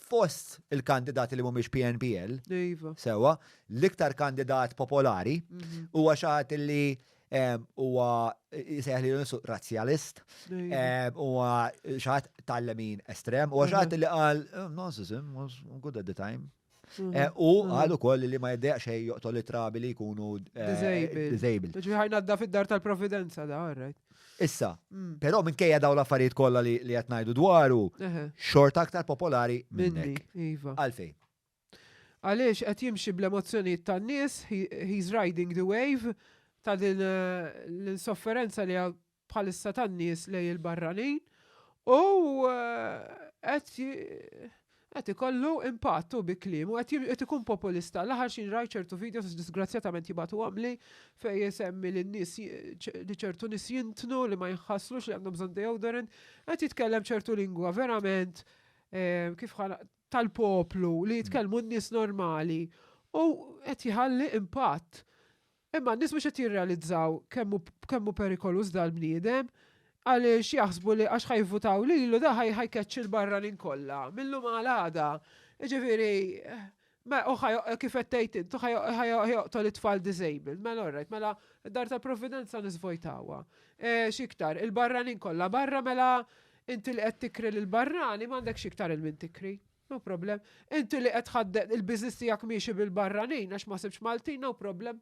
fost il-kandidati li mhumiex PNPL, sewwa, l-iktar kandidat popolari huwa xi ħadd li huwa jsejħ li nisu razzjalist, huwa xi ħadd tal-lemin estrem, huwa xi ħadd li qal narcissism was good at the time. Mhm. Eh, u mhm. għal ukoll li ma jiddeq xej joqtol it-trabi li jkunu eh, disabled. Ġiħajna għadda fid-dar tal-providenza da, right? Issa, però minkejja daw l-affarijiet kollha li qed ngħidu dwaru, xorta aktar popolari minnek. Iva. Għalfejn? Għaliex qed jimxi bl-emozzjonijiet tan-nies, he's riding the wave ta' din eh, l-insofferenza li bħalissa tan-nies lej il-barranin u eh, qed Qed ikollu impatt hu bi kliemu, qed jim qed ikun populista. L-aħħar x'in rajt ċertu videos disgrazzjatament jibagħtuhomli fejn isemmi li n-nies ji ċ li ċertu nies jintnu, li ma jinħaslux, li għandhom bżonn deodorant. Qed jitkellem ċertu lingwa verament eh kif ħa tal-poplu li jitkellmu n-nies normali u qed jħalli impatt. Imma n-nies mhux qed jirrealizzaw kemm hu kemm hu perikoluż dal-bniedem għaliex jaħsbu li għax ħa jivvutaw lilu da ħa ħa jkeċċi l-barranin kollha mil-lum għal għada. Jiġifieri ma hu ħa kif qed tgħid int hu ħa ħa ħa joqtol it-tfal disabled. Mela all right, mela d-Dar tal-Provvidenza nisvojtawha. X'iktar, il-barranin kollha barra mela inti li qed tikri lill-barrani m'għandek x'iktar il-min tikri. No problem. Inti li qed tħadded il-business tiegħek miexi bil-barranin għax ma sibx Maltin, no problem.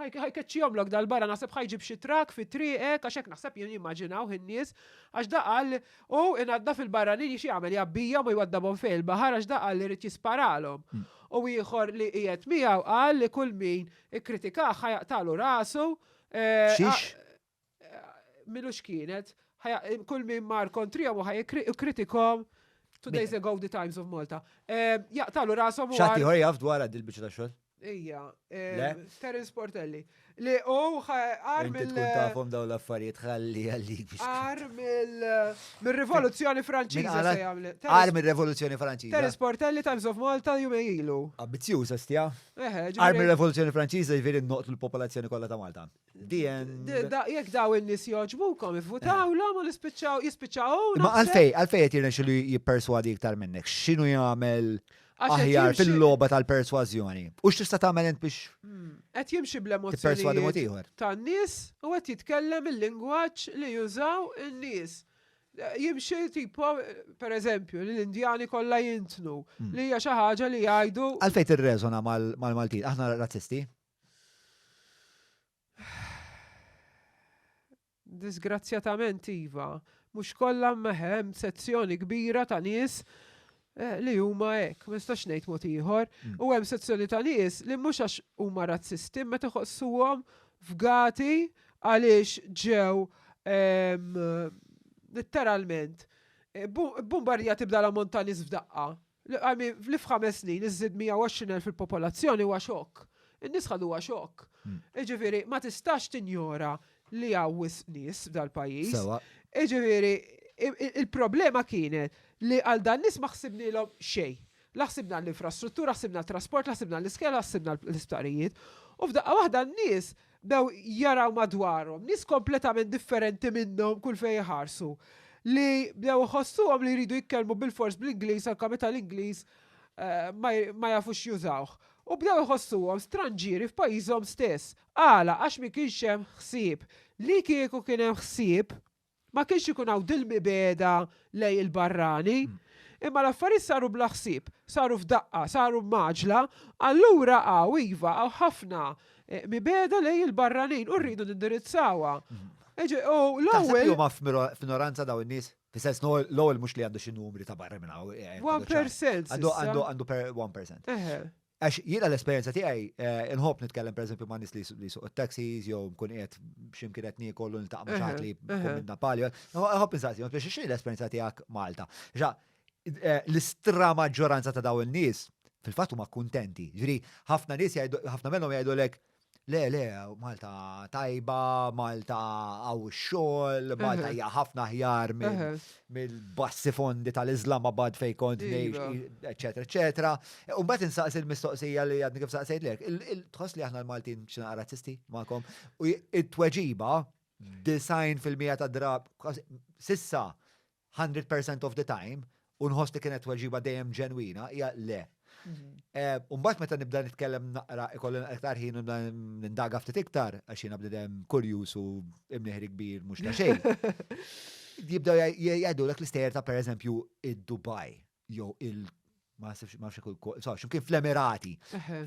Ħajkeċċihom lok dal-barra naħseb ħajġib xi trak fi triqek għax hekk naħseb jien jimmaġinaw in-nies għax da qal u inadda fil-barranin xi jagħmel jabbija ma jwaddabhom fejn il-baħar għax da qal li rid jisparalhom. Hmm. U ieħor li qiegħed miegħu qal li kull min ikkritikah ħajaqtalu rasu. Eh, Xiex? Milux kienet, kull min mar kontrijom u ħaj kritikom two days ago the Times of Malta. Jaqtalu rasom u. Xati ħor jaf dwar għad il-bicċa ta' xol? Ija, Terence Portelli. Li u għar mill. Tkun tafom daw l-affarijiet ħalli għalli. Għar mill-rivoluzzjoni franċiza se jgħamli. Għar mill-rivoluzzjoni franċiza. Terence Portelli Times of Malta jumejlu. Abbizjuż, astja. Għar mill-rivoluzzjoni franċiza jviri noqtu l-popolazzjoni kollha ta' Malta. Jek daw il-nis joġbukom, votaw l u l-ispicċaw, jispicċaw. Ma għalfej, għalfej jett jirna xilli jipperswadi iktar minnek. Xinu jgħamil aħjar fil-loba tal-perswazjoni. U x'tista' tagħmel int biex. Hmm. Qed jimxi bl-emozzjoni. Tan-nies u qed jitkellem il-lingwaġġ li jużaw in-nies jimxi tipo, per eżempju, li l-Indjani kollha jintnu, hmm. li hija xi ħaġa li jgħidu. Għalfejn tirreżona mal-Maltin, aħna razzisti? Disgrazzjatament iva, mhux kollha imma hemm sezzjoni kbira ta' nies eh, li huma hekk, ma nistax ngħid mod ieħor, mm. u hemm sezzjoni ta' nies li mhux għax huma razzisti meta ħossuhom fgati għaliex ġew ehm, literalment eh, bombarja tibda l-ammont ta' nies f'daqqa. Li f'ħames snin iżżid 120,000 il-popolazzjoni huwa xokk. In-nies ħaduha xokk. Jiġifieri ma tistax tinjora li hawn wisq nies f'dal-pajjiż. Sewwa. Jiġifieri il-problema kienet li għal dan-nies ma ħsibnielhom xejn. La ħsibna għall-infrastruttura, ħsibna għat-trasport, la ħsibna għall-iskejjel, la ħsibna għall-isptarijiet. U f'daqqa waħda n-nies bdew jaraw madwarhom nies kompletament differenti minnhom kull fejn iħarsu, li bdew iħossuhom li jridu jitkellmu bilfors bl-Ingliż anke meta l-Ingliż ma jafux jużawh. U bdew iħossuhom stranġieri f'pajjiżhom stess. Għala? Għax ma kienx hemm ħsieb. Li kieku kien hemm ħsieb, Ma kienx ikun hawn dil-mibegħda lejn il-barrani. Imma l-affarijiet saru bla ħsieb, saru f'daqqa, saru b'mgħaġġla, allura hawn, iva, hawn ħafna mibegħda lejn il-barranin u rridu nindirizzawha. Taħseb li huma f'minoranza dawn in-nies? Fis-sens l-ewwel mhux li għandu xi numri ta' barra minn hawn. 1%. Għandu 1%. Għax jiena l-esperjenza tiegħi inħobb nitkellem pereżempju ma' nies li suq it-taxis jew nkun qiegħed x'imkien qed niekollu niltaq ma' xaħat li jkun minn Napali. Inħobb insaqsi, biex xi l-esperjenza tiegħek Malta. Ġa, l-istra maġġoranza ta' daw in-nies fil-fatt huma kuntenti. Ġri, ħafna nies jgħidu, ħafna minnhom jgħidulek, Le, le, Malta tajba, Malta għaw xol, Malta hija ħafna ħjar mill-bassi fondi tal-Islamabad fej kont nejx, eccetera, eccetera. U bat insaqs il-mistoqsija li għadni kif saqsejt lek, il-tħoss li aħna l-Maltin xina razzisti ma'kom, u it-tweġiba, design fil-mija ta' drab, sissa, hundred percent of the time, u nħoss li kienet tweġiba dejjem ġenwina, hija le. U mbagħad meta nibda nitkellem naqra ikolli naqra iktar ħin u nindaga ftit iktar għax jiena bnidem kurjuż u imnieħri kbir mhux ta' xejn. Jibdew jgħidulek l-istejjer ta' pereżempju id-Dubai. jew il ma sibx ma xekul so ximkien fl-Emirati.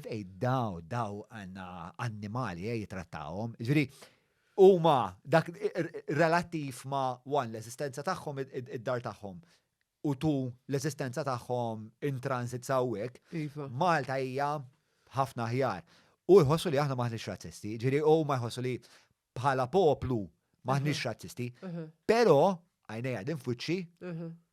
Fej daw daw għandna annimali eh, jitrattawhom. Ġifieri huma dak relattiv ma wan l-eżistenza tagħhom id-dar tagħhom u tu l-eżistenza tagħhom in transit sawwek. Iva. Malta hija ħafna ħjar. U jħossu li aħna maħniex razzisti, ġiri u ma jħossu li bħala poplu maħniex razzisti, pero għajnej għadin fuċċi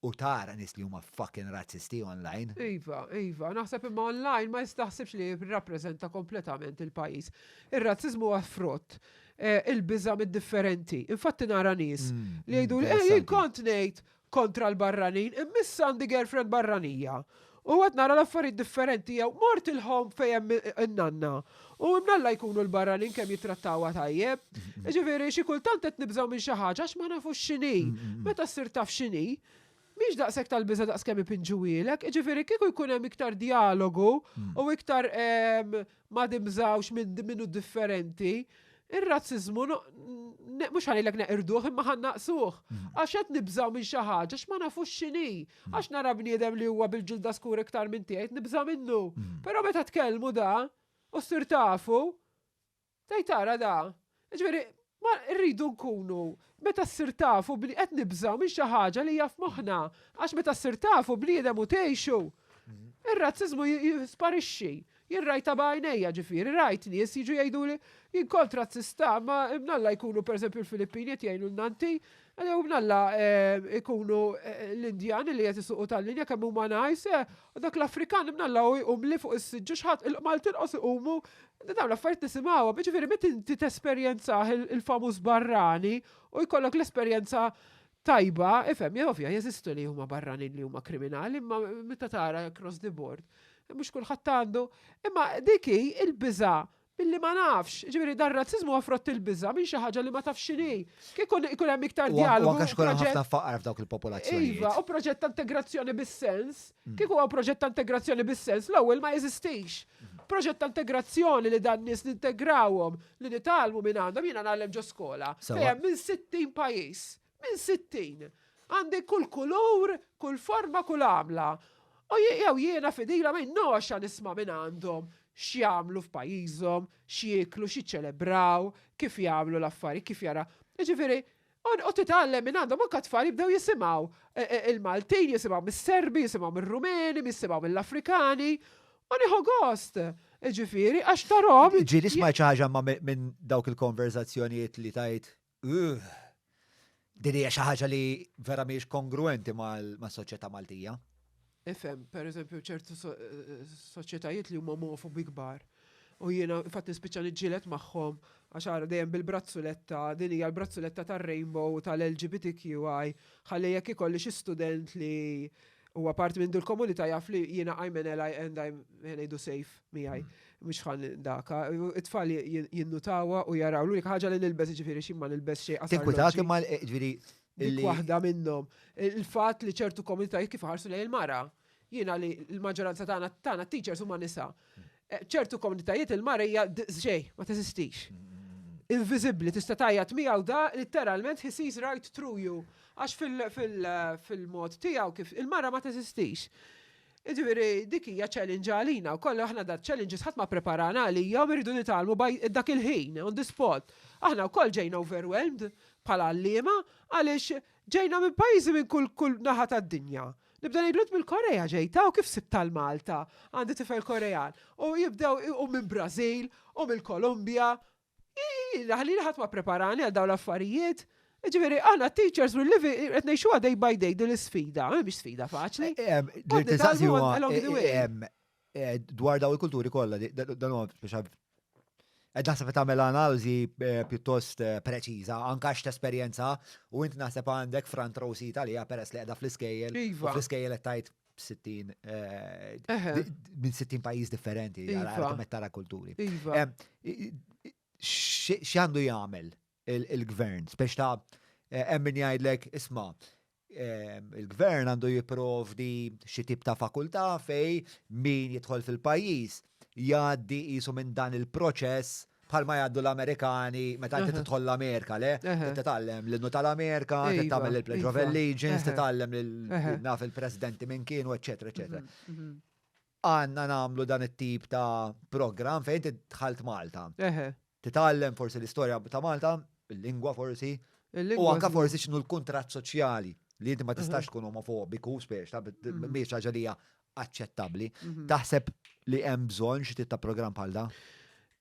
u tara nis li huma fucking razzisti online. Iva, iva, naħseb imma online ma jistaħsibx li jirrappreżenta kompletament il-pajis. Ir-razzizmu għaffrott eh, il-biża mid-differenti. Infatti nara nis mm, li jgħidu li eh, kont ngħid kontra l-barranin imma issa għandi girlfriend barranija u qed nara l-affarijiet differenti jew mort il-home fejn hemm in-nanna u imnalla jkunu l-barranin kemm jittrattawha tajjeb. Jiġifieri xi kultant qed nibżgħu minn xi ħaġa għax ma nafux x'inhi. Meta ssir taf x'inhi, mhix daqshekk tal-biża' daqs kemm ipinġuhielek. Jiġifieri kieku jkun hemm iktar djalogu u iktar ehm, ma dimżgħux minn minnu differenti, ir-razziżmu mhux ħanilek neqirduh imma ħan naqsuh. Mm. Għax qed nibżgħu minn xi ħaġa x'ma nafux x'inhi. Mm. Għax nara bniedem li huwa bil-ġilda skur iktar minn tiegħi nibża' minnu. Mm. Però meta tkellmu da u ssir tafu, tgħid tara da, Jiġifieri, ma rridu nkunu, meta ssir tafu bni-, qed nibżgħu minn xi ħaġa li hija f'moħħna, għax meta ssir tafu bniedem u tgħixu, ir-razziżmu jisparixxi. Jien rajtha b'għajnejja, ġifieri, rajt nies jiġu jgħiduli, jien kont razzista, imma mnalla jkunu pereżempju l-Filippini qed jgħinulna inti, jew mnalla jkunu l-Indjani li qed isuqu tal-linja kemm huma nice, U dak l-Afrikan imnallaw u jqumli fuq is-siġġu xħat il-qmal tirqos iqumu, dawn l-affarijiet nisimgħuhom, jiġifieri meta inti tesperjenzah il-famuż barrani u jkollok l-esperjenza tajba, ifhem, ovvja jeżistu li huma barranin li huma kriminali imma meta tara across the board mhux kulħadd għandu, imma dik hi l-biża' Billi ma nafx, jiġifieri dan ir-razziżmu huwa frott il-biża' minn xi ħaġa li ma tafx x'inhi. Kieku ikun hemm iktar djalogu. U anke għax ikun hemm ħafna faqar f'dawk il-popolazzjonijiet. Iva, u proġett ta' integrazzjoni bis-sens. Kieku huwa proġett ta' integrazzjoni bis-sens, l-ewwel ma jeżistix. Proġett ta' integrazzjoni li dan-nies nintegrawhom, li nitgħallmu minn għandhom, jiena ngħallem ġo skola fejn hemm minn 60 pajjiż. minn sittin, għandi kull kulur, kull forma, kull għamla, u jew jiena fidila minn noxa nisma' minn għandhom x'jagħmlu f'pajjiżhom, x'jieklu, x'iċċelebraw, kif jagħmlu l-affarijiet, kif jaraw, jiġifieri, u titgħallem minn għandhom, anke t-tfal jibdew jisimgħu l-Maltin, jisimgħu mis-Serbi, jisimgħu mir-Rumeni, jisimgħu mill-Afrikani, u nieħu gost, jiġifieri, għax tarahom. Ġieli smajt xi ħaġa minn dawk il-konverżazzjonijiet li tgħid Ugh! Din hija xi ħaġa li vera mhijiex kongruwenti mas-soċjetà Maltija. Ifhem, per eżempju, ċertu soċjetajiet li huma omofobi kbar. U jiena fatt nispiċċa niġġieled magħhom għax ara dejjem bil-brazzuletta, din hija l-brazzuletta tar-rainbow tal-LGBTQI, ħalli jekk ikolli xi student li Huwa parti minn dil-komunità jaf li jiena I'm an ally and I'm ngħidu safe miegħi. Mhux ħan daka. It-tfal jinnutawha u jaraw l-unika ħaġa li nilbes ġifieri xi ma nilbes xejn qasar. Tinkwitak imma ġifieri Dik waħda minnhom. Il-fatt li ċertu komunitajiet kif ħarsu lejn il-mara. Jiena li l-maġġoranza tagħna tagħna teachers huma nisa. F'ċertu komunitajiet il-mara hija xejn, ma teżistix. Inviżibbli, tista' tgħajjat miegħu da litteralment he sees right through you għax fil-mod tiegħu kif il-mara ma teżistix. Jiġifieri dik hija challenge għalina wkoll aħna da challenges ħadd ma ppreparana għalihom irridu nitgħallmu dak il-ħin, on the spot. Aħna wkoll ġejna overwhelmed bħala għalliema għaliex ġejna minn pajjiżi minn kull naħa tad-dinja. Nibda ngħidlu mill-Korea ġejta u kif sibta l-Malta, għandi tifel Korean. U jibdew u minn Brażil u mill-Kolumbja. Ħalli ħadd ma preparani għal dawn l-affarijiet. Ġifieri aħna teachers u livi qed ngħixuha day by day din l-isfida, mhix sfida faċli. Eh, dwar daw il-kulturi kollha, dan huwa biex Ed naħseb tagħmel analiżi eh, pjuttost eh, preċiża, anka x esperjenza u int naħseb għandek front row seat għalija peress li qiegħda fl-iskejjel. Iva. Fl-iskejjel qed tajt 60 minn 60 pajjiż differenti għal iva. tara kulturi. Iva. X'għandu jagħmel il-Gvern. Spiex ta' hemm min jgħidlek isma' il-Gvern għandu jipprovdi xi tip ta' fakultà fej min jidħol fil-pajjiż jgħaddi qisu minn dan il-proċess bħalma jgħaddu l-Amerikani meta inti tidħol l-Amerika, le? Titgħallem l-innu tal-Amerika, tagħmel il-Pledge of Allegiance, titgħallem naf il-Presidenti minn kienu, eċetera, eċetera. Għandna nagħmlu dan it-tip ta' programm fejn inti dħalt Malta. Eħe. Titgħallem forsi l-istorja ta' Malta, il-lingwa forsi. U anke forsi x'inhu l-kuntratt soċjali li inti ma tistax tkun omofobiku, spiex ta' mhix ħaġa li hija aċċettabbli. Taħseb li hemm bżonn xi tip ta' programm bħal dan?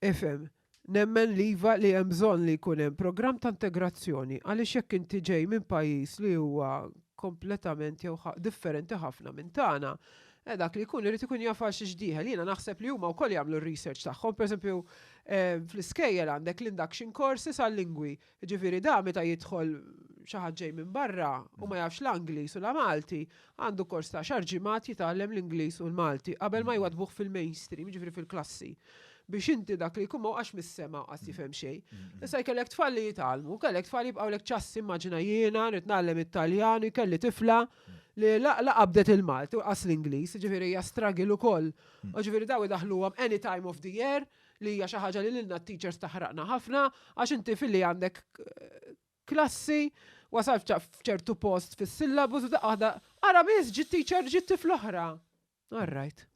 Ifhem, Nemmen li iva li hemm bżonn li jkun hemm programm ta' integrazzjoni għaliex jekk inti ġej minn pajjiż li huwa kompletament jew differenti ħafna minn tagħna, eh dak li jkun irid ikun jaf għal xiex dieħel. Jiena naħseb li huma wkoll jagħmlu r-research tagħhom. Pereżempju, fl-iskejjel għandek l-induction courses għal-lingwi. Jiġifieri dan meta jidħol xi ħadd ġej minn barra u ma jafx la Ingliż u la Malti, għandu kors ta' għaxar ġimgħat jitgħallem l-Ingliż u l-Malti qabel ma jwaddbuh fil-mainstream, jiġifieri fil-klassi. Biex inti dak li jkun ma waqax mis-sema u qas jifhem xejn. Issa jkellek tfal li jitgħallmu, kellek tfal jibqgħulek ċassi immaġina jiena rrid ngħallem it-Taljan u jkelli tifla li la la qabdet il-Malti u laqas l-Ingliż, jiġifieri hija struggle ukoll. Jiġifieri dawn idaħħluhom any time of the year, li hija xi ħaġa li lilna t-teachers taħraqna ħafna għax inti filli għandek klassi wasal f'ċertu post fis-syllabus u daqqa ara biss ġi teacher ġi tifl oħra. All right.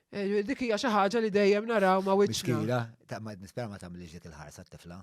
Eh, dik hija xi ħaġa li dejjem naraw ma' wiċċna. Miskila, ta' ma nispera ma tagħmilx dik il-ħarsa t-tifla.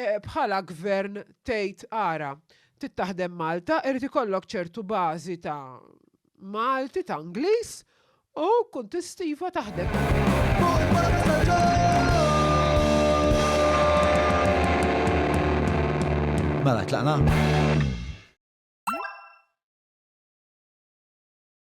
Bħala Gvern tgħid ara, trid taħdem Malta, irid ikollok ċertu bażi ta' Malti, ta' Ingliż u tkun tista' iva taħdem. Mela, tlaqna?